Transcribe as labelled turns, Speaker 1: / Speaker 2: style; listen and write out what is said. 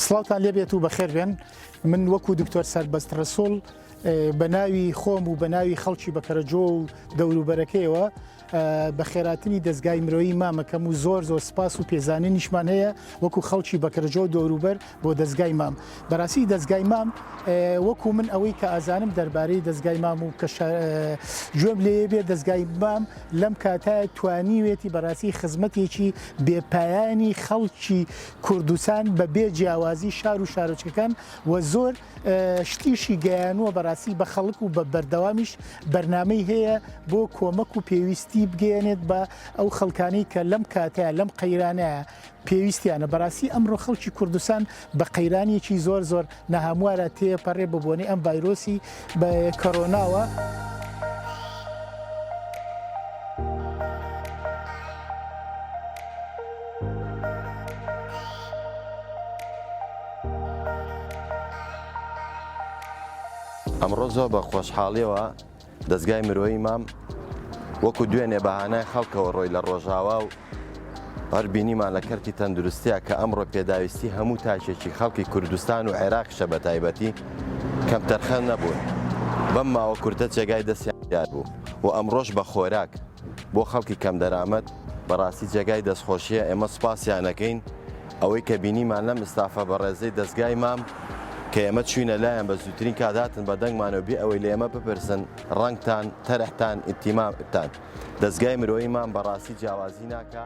Speaker 1: سڵاوتان لێبێت و بەخێربێن من وەکو دکتۆر سربەست ڕسوڵ بە ناوی خۆم و بە ناوی خەڵکی بەکەرەجۆ و دەوروبەرەکەیەوە بەخێراتنی دەزگای مرۆیی مامەکەم و زۆر زۆر سپاس و پێزانینیشمان هەیە وەکو خەڵکی بەکرەجۆ و دەوروبەر بۆ دەزگای مام بەراسی دەزگای مام وەکو من ئەوەی کە ئازانم دەربارەی دەزگای مام و کە گوێم لێ بێ دەزگای مام لەم کاتایە توانیوێتی بەراسی خزمەتێکی بێپایانی خەڵکی کوردستان بە بێ جیاوازی شار و شارۆچەکان و زۆر شتیشی گەیانووە بەڕاستی بە خەڵک و بە بەردەوامیش بەرنمەی هەیە بۆ کۆمەک و پێویستی بگەێنێت بە ئەو خەڵکانی کە لەم کاتە لەم قەیرانەیە پێویستیانە بەڕاستی ئەمڕۆ خەڵکی کوردستان بە قەیرانێکی زۆر زۆر نەهاموارە تێپەڕێ ببوونی ئەم ڤایرۆسی بە کۆرۆناوە.
Speaker 2: ئەمڕۆ زۆر بە خۆشحاڵیەوە دەستگای مرۆیی مام وەکو دوێنێ بەهانای خەڵکەوە ڕۆی لە ڕۆژاوا و هەر بینیمان لە کەرتی تەندروستیا کە ئەمڕۆ پێداویستی هەموو تاکێکی خەڵکی کوردستان و عێراقشە بە تایبەتی کەم تەرخەن نەبوون بەم ماوە کورتە جێگای دەستیان دیار بوو و ئەمڕۆژ بە خۆراک بۆ خەڵکی کەم دەرامەت بەڕاستی جێگای دەستخۆشیە ئێمە سوپاسیانەکەین ئەوەی کە بینیمان لەم ئستافە بەڕێزەی دەستگای مام کە ئێمە چوینە لایەن بە زووترین کات هاتن بە دەنگمانەوە بێ ئەوەی لە ئێمە بپرسن ڕەنگتان تەرحتان ئیتیمامتان دەستگای مرۆیی مام بەڕاستی جیاوازی ناکە.